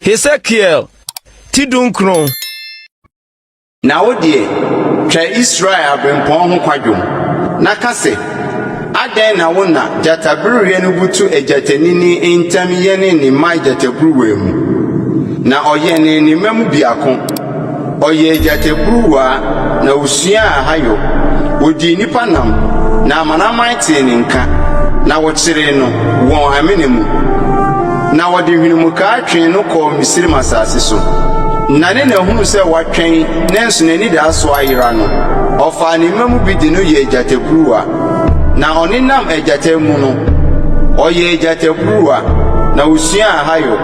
Hesekiel ti dunkron. Na wo deɛ, twa Israel abirɛmpɔn ho kwadwom, na ka sɛ, Adɛn na wo na gyatabereɛ no butu agyatanini ntam yɛne ne mma agyataburuwa mu, na ɔyɛne ne mma mu biako, Ɔyɛɛ gyataburuwa, na osuaa ahayɔ, Odii nnipa nam, na amanaman tee ne nka, Na wɔkyeree no wɔn amena mu, Na wɔde hwenemuka twee no kɔɔ Misraim asase so. Na ne na huu sɛ watwɛn, nanso n'anidaso ayera no, Ɔfaa ne mma mu bi de no yɛɛ gyataburuwa, Na ɔnenam agyata mu no, ɔyɛɛ gyataburuwa, na osuaa ahayɔ.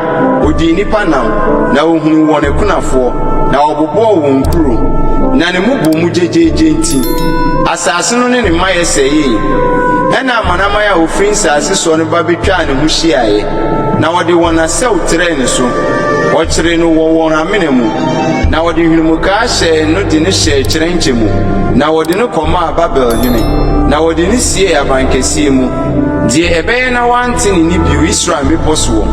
Ɔdii nnipa nam, na ɔhunuu wɔn akunafoɔ, na ɔbobɔɔ wɔn nkuro, na ne mmobɔ mu gyegyeegye nti, asase no ne ne mmaeɛ sɛeeɛ. Ɛnna amanaman a wɔfiri nsase soɔ no ba bɛtwaa ne ho hyiaeɛ, na wɔde wɔn asau trɛɛ ne so. Wɔkyeree no wɔ wɔn amena mu, na wɔde nhwenemukaa hyɛɛ no de no hyɛɛ kyerɛnkyɛ mu, na wɔde no kɔmaa Babel hene, na wɔde no siee abankɛseɛ mu. Deɛ ɛbɛyɛ na woante ne nne bio Israel mmepɔ soɔ,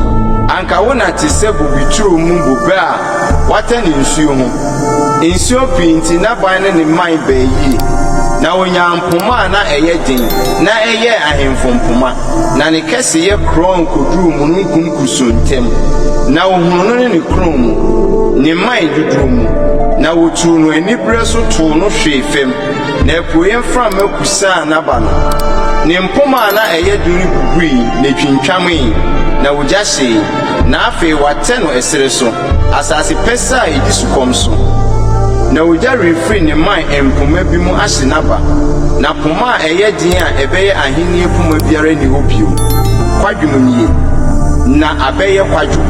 anka wo nna te sɛ bobe turo mu bobe a wɔatane nsuo ho. Nsuo pii nti n'aban ne ne mman baa yie, na ɔnyaa mpoma a na ɛyɛ den na ɛyɛɛ ahemfo mpoma, na ne kɛseyɛ korɔn kɔduruu mununkum kusuu ntam, na wɔhunuu no ne ne korɔn mu, ne mman dodoɔ mu, na wɔtuu no aniberɛ so too no hwee fam. Na apueeɛ mframa kusaa n'aba no, ne mpoma a na ɛyɛ den no bubui, na ɛtwintwamee, na ogya hyee, na afei wɔatɛ no ɛserɛ so, asase pɛsɛɛ a ɛdi sukɔm so. Na ogya refiri ne mman mpoma bi mu ahye n'aba, na poma a ɛyɛ den a ɛbɛyɛ ahennie poma biara nni hɔ bio. Kwadwom nie. Ná abɛyɛ kwadwom.